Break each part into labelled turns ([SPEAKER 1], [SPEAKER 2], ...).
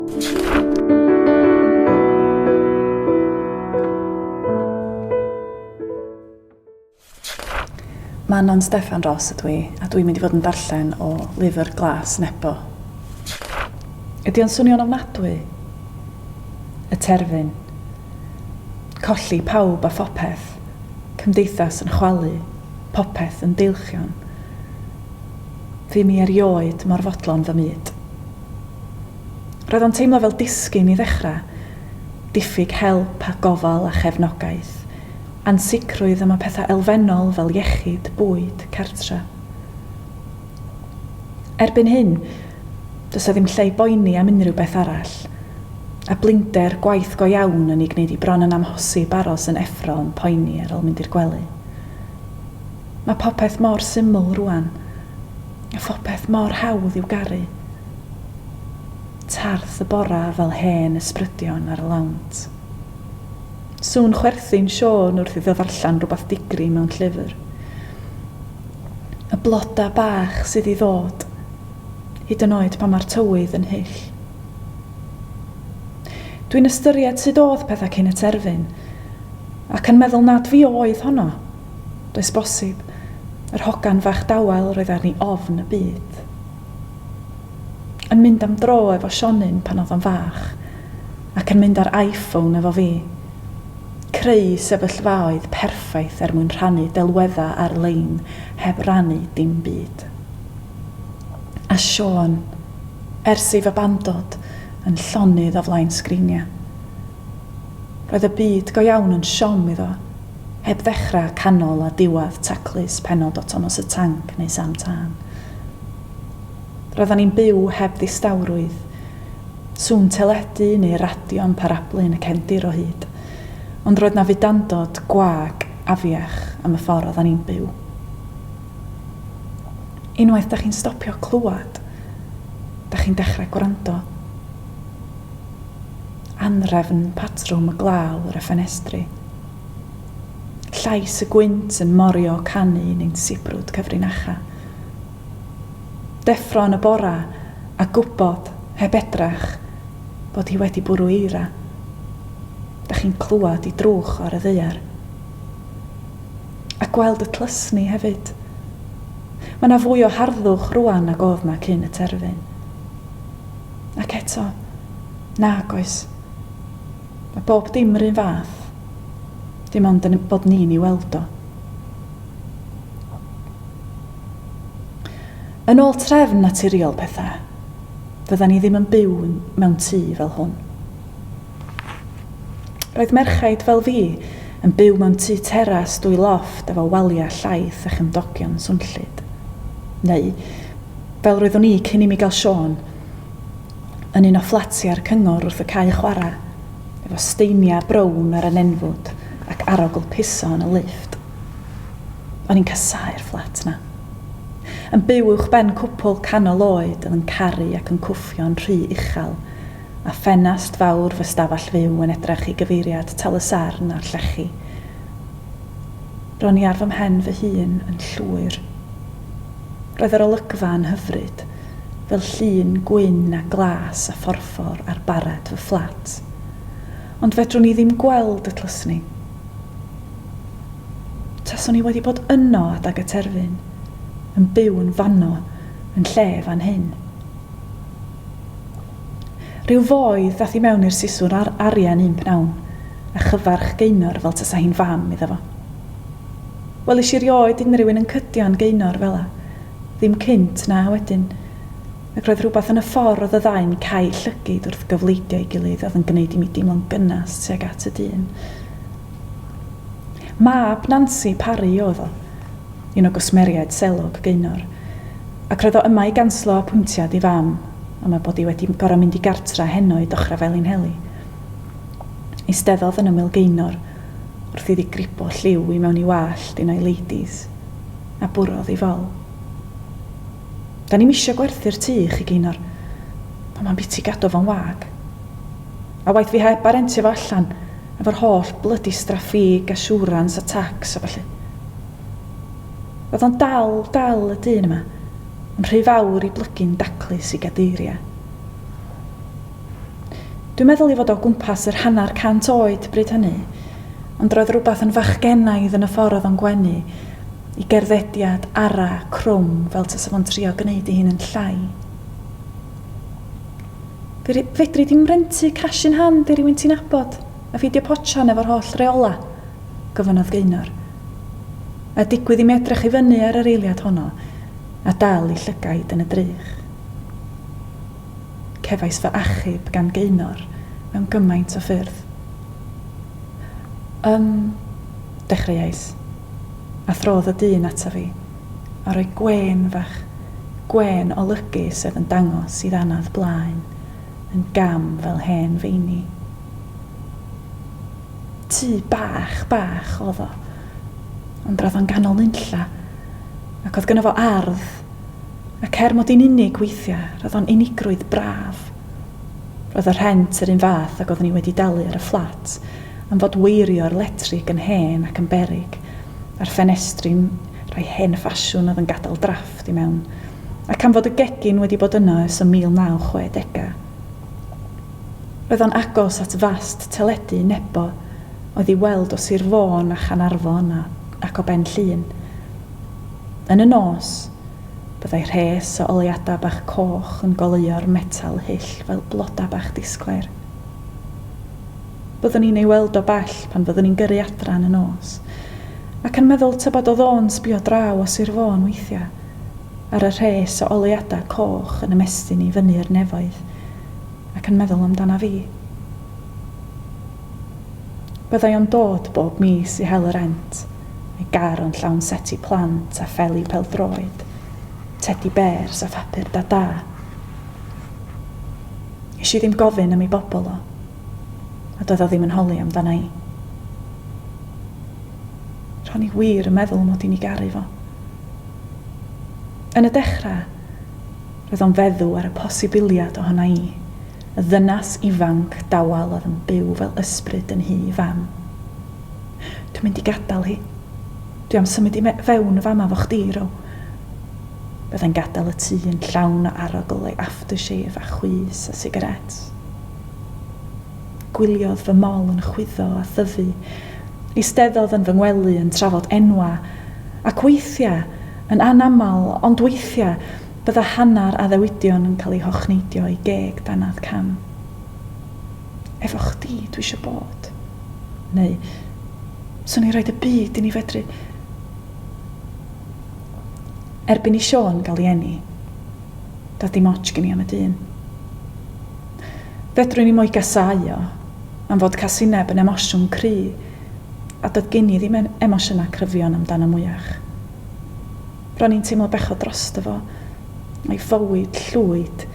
[SPEAKER 1] Manon Steffan Ros ydw i, a dwi'n mynd i fod yn darllen o lyfr Glas Nebo. Ydy o'n swnio'n ofnadwy? Y terfyn. Colli pawb a phopeth. Cymdeithas yn chwalu. Popeth yn deilchion. Fu mi erioed mor fodlon fy myd. Roedd o'n teimlo fel disgyn i ddechrau. Diffyg help a gofal a chefnogaeth. Ansicrwydd am y pethau elfennol fel iechyd, bwyd, cartre. Erbyn hyn, does 'na ddim lle i boeni am unrhyw beth arall. A blinder, gwaith go iawn yn ei gwneud hi bron yn amhosib aros yn effro yn poeni ar ol mynd i'r gwely. Mae popeth mor syml rŵan. A phopeth mor hawdd i'w garu. Tarth y bora fel hen ysbrydion ar y lawnt. Sŵn chwerthin Siôn wrth iddo ddarllen rhywbeth digri mewn llyfr. Y bloda bach sydd i ddod, hyd yn oed pan mae'r tywydd yn hyll. Dwi'n ystyried sut oedd pethau cyn y terfyn, ac yn meddwl nad fi oedd honno. Does bosib. Yr hogan fach dawel roedd arni ofn y byd. Yn mynd am dro efo Sionyn pan oedd o'n fach, ac yn mynd ar iPhone efo fi. Creu sefyllfaoedd perffaith er mwyn rhannu delweddau ar-lein heb rannu dim byd. A Siôn, ers ei fabandod, yn llonydd o flaen sgriniau. Roedd y byd go iawn yn siom iddo, heb ddechrau, canol a diwedd taclus pennod o Tomos y Tanc neu Sam Tân. Roeddan ni'n byw heb ddistawrwydd, sŵn teledu neu radio yn parablu yn y cefndir o hyd, ond roedd 'na fudandod gwag afiach am y ffordd oeddan ni'n byw. Unwaith 'da chi'n stopio clywed, 'da chi'n dechrau gwrando. Anhrefn patrwm y glaw ar y ffenestri. Llais y gwynt yn morio canu yn ein sibrwd cyfrinacha. Deffro yn y bora a gwybod, heb edrach, bod hi wedi bwrw eira. Dych chi'n clywed i drwch ar y ddaear. A gweld y tlysni hefyd. Mae 'na fwy o harddwch rŵan nag oedd 'na cyn y terfyn. Ac eto, nag oes. Mae bob dim yr un fath, dim ond yn bod ni'n ei weld o. Yn ôl trefn naturiol pethau, fyddan ni ddim yn byw mewn tŷ fel hwn. Roedd merchaid fel fi yn byw mewn tŷ teras dwy lofft efo waliau llaith a chymdogion swnllyd. Neu, fel roeddwn i cyn i mi gael Siôn, yn un o fflatiau'r cyngor wrth y cae chwarae, efo steiniau brown ar y nenfwd ac arogl piso yn y lifft. O'n i'n casáu'r fflat 'na. Yn byw uwchben cwpwl canol oed oedd yn caru ac yn cwffio'n rhy uchel a ffenast fawr fy stafell fyw yn edrych i gyfeiriad Tal-y-sarn a'r llechi. Ro'n i ar fy mhen fy hun yn llwyr. Roedd yr olygfa yn hyfryd, fel llun gwyn a glas a phorffor ar barred fy fflat. Ond fedrwn i ddim gweld y tlysni. Taswn i wedi bod yno adag y terfyn, yn byw yn fanno, yn lle fan hyn. Rhyw foi ddath i mewn i'r siswrn ar arian un pnawn, a chyfarch Gaenor fel tasa hi'n fam iddo fo. Welish i rioed unrhywun yn cydio-n Gaenor fela, ddim cynt na wedyn, ac roedd rhywbeth yn y ffor roedd y ddau'n cau llygid wrth gyfleidio ei gilydd oedd yn gneud i mi deimlo'n gynnas tuag at y dyn. Mab Nansi Parry oedd o, un o gwsmeriaid selog Gaenor, ac roedd o yma i ganslo apwyntiad ei fam. a mae bod hi wedi gorau mynd i gartra heno i Dochra Felinheli. Eisteddodd yn ymyl Gaenor wrth iddi gripo lliw i mewn i wallt unai Ladies, a bwrodd i fol. Da ni'm isio gwerthu'r tŷ i chi, Gaenor, ond mae'n biti gadw fo'n wag. A waeth fi heb a rentio fo allan, efo'r holl blydi straffîg a siwrans a tacs a ballu. Oedd o'n dal, dal y dyn yma. Yn rhy fawr i blygu'n daclus i gadeiriau. Dwi'n meddwl i fod o gwmpas yr hanner cant oed bryd hynny, ond roedd rhywbeth yn fachgenaidd yn y ffordd oedd o'n gwenu, i gerddediad ara, crwm, fel tasa fo'n trio gwneud ei hun yn llai. Fe- fedri di'm rentu cash in hand i rywun ti'n nabod. A pheidio potsian efo'r holl reola', gofynnodd Gaynor. A digwydd i mi edrych i fyny ar yr eiliad honno a dal i llygaid yn y drych. Cefais fy achub gan Gaynor mewn gymaint o ffyrdd. Ym, dechreuais. A throdd y dyn ata fi, a rhoi gwên fach, gwên olygu sef yn dangos i ddannedd blaen. yn gam fel hen feini. Tŷ bach, bach oedd o, ond roedd o'n ganol nunlla, ac oedd gynno fo ardd, ac er mod i'n unig weithiau, roedd o'n unigrwydd braf. Roedd y rhent yr un fath ag oeddwn i wedi dalu ar y fflat, am fod weirio'r letrig yn hen ac yn beryg, a'r ffenestri'n rhai hen ffasiwn oedd yn gadael drafft. chdi mewn. Ac am fod y gegin wedi bod yno ers y 1960au. Roedd o'n agos at fast teledu Nebo oedd i'w weld o Sir Fôn a Chanarfon a ac o Ben Llŷn. Yn y nos, byddai rhes o oleuadau bach coch yn goleuo'r metal hyll fel bloda bach disglair. Byddwn ni'n ei weld o bell pan fyddwn ni'n gyrru adra yn y nos, ac yn meddwl tybed oedd o'n sbio draw o Sir Fôn weithiau, ar y rhes o oleuadau coch yn ymestyn i fyny i'r nefoedd, ac yn meddwl amdana fi. Byddai o'n dod bob mis i hel y rent, a'i gar o'n llawn seti plant a pheli pêl-droed, tedi bêrs a phapur Dada. Is i ddim gofyn am ei bobl o. a doedd o ddim yn holi amdana i. Ro'n i wir yn meddwl mod i'n i garu fo. Yn y dechrau, roedd o'n feddw ar y posibiliad ohona i, y ddynas ifanc dawel oedd yn byw fel ysbryd yn nhŷ fam. Dwi'n mynd i gadael hi. Dwi am symud i me fewn y fama 'fo chdi, Ro. Byddai'n gadael y tŷ yn llawn o arogl ei aftershave a chwys a sigaréts. Gwyliodd fy mol yn chwyddo a thyfu. Eisteddodd yn fy ngwely yn trafod enwau. Ac weithiau, yn anaml, ond weithiau, bydda hanner addewidion yn cael eu hochneidio i geg dannedd cam. Efo chdi dwi isio bod. Neu, swn i'n rhoid y byd i ni fedru. Erbyn i Siôn gael ei eni. Doedd dim ots gen i am y dyn. Fedrwn i mo'i gasáu o, am fod casineb yn emosiwn cry, a doedd gen i ddim emosiynau cryfion amdano mwyach. Ro'n i'n teimlo bechod drosto fo, a'i fywyd llwyd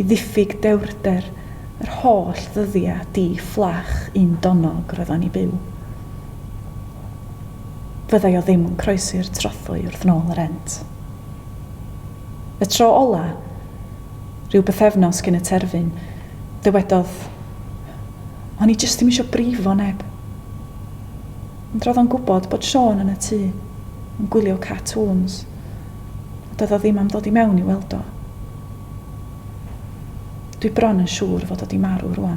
[SPEAKER 1] i ddiffyg dewrder yr holl ddyddiau di-fflach un-donog roedd o'n 'u byw. Fyddai o ddim yn croesi'r trothwy wrth nôl y rent. Y tro ola', ryw bythefnos cyn y terfyn, dywedodd, O'n i jyst ddim isio brifo neb. Ond ro'dd o'n gwbod bod Siôn yn y tŷ, yn gwylio cartŵns, a doedd o ddim am ddod i mewn i weld o. Dwi bron yn siŵr fod o 'di marw rŵan.